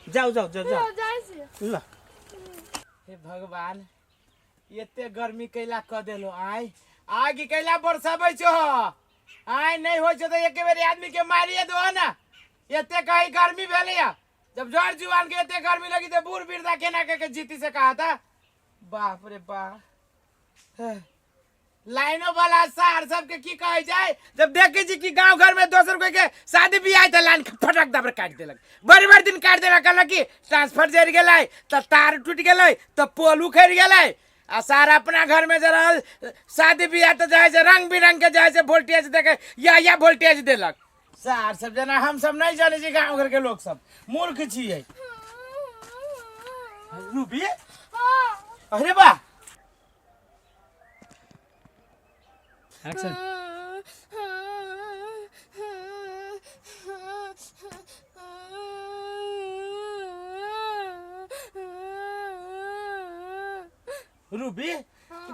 जाओ जाओ जाओ जाओ जाइ छी ला हे भगवान एते गर्मी कैला क देलो आय आग कैला बरसाबै छो आय नहीं हो छो तो एक बेर आदमी के मारिए दो ना एते कहीं गर्मी भेले या जब जड़ जुआन के एते गर्मी लगी तो बूढ़ बीरदा केना के, के जीती से कहा था बाप रे बाप लाइनो वाला सार सबके की कहै छै जब देखै छी कि गांव घर में दोसर कोई के शादी बियाह तऽ लाइन फटक दबर काटि देलक बड़ी बड़ी दिन काटि देलक कहलक कि ट्रांसफर जरि गेलै तऽ तार टूटि गेलै तऽ पोल उखड़ गेलै आ सार अपना घर में जे रहल शादी बियाह तऽ जाइ छै रंग बिरंग के जाइ छै वोल्टेज देके या या वोल्टेज देलक सार सब जेना हम सब नहीं जाने छी गांव घर के लोग सब मूर्ख छियै रूबी अरे बा యాక్షన్ रूबी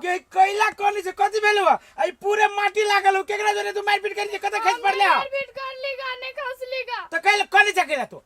के कोयला कोनी से कथी भेल हुआ आई पूरे माटी लागल हो केकरा जोरे तू मारपीट करी कत खेत पड़ले हो मारपीट कर ली गाने खस ली गा तो कल कोनी से केला तू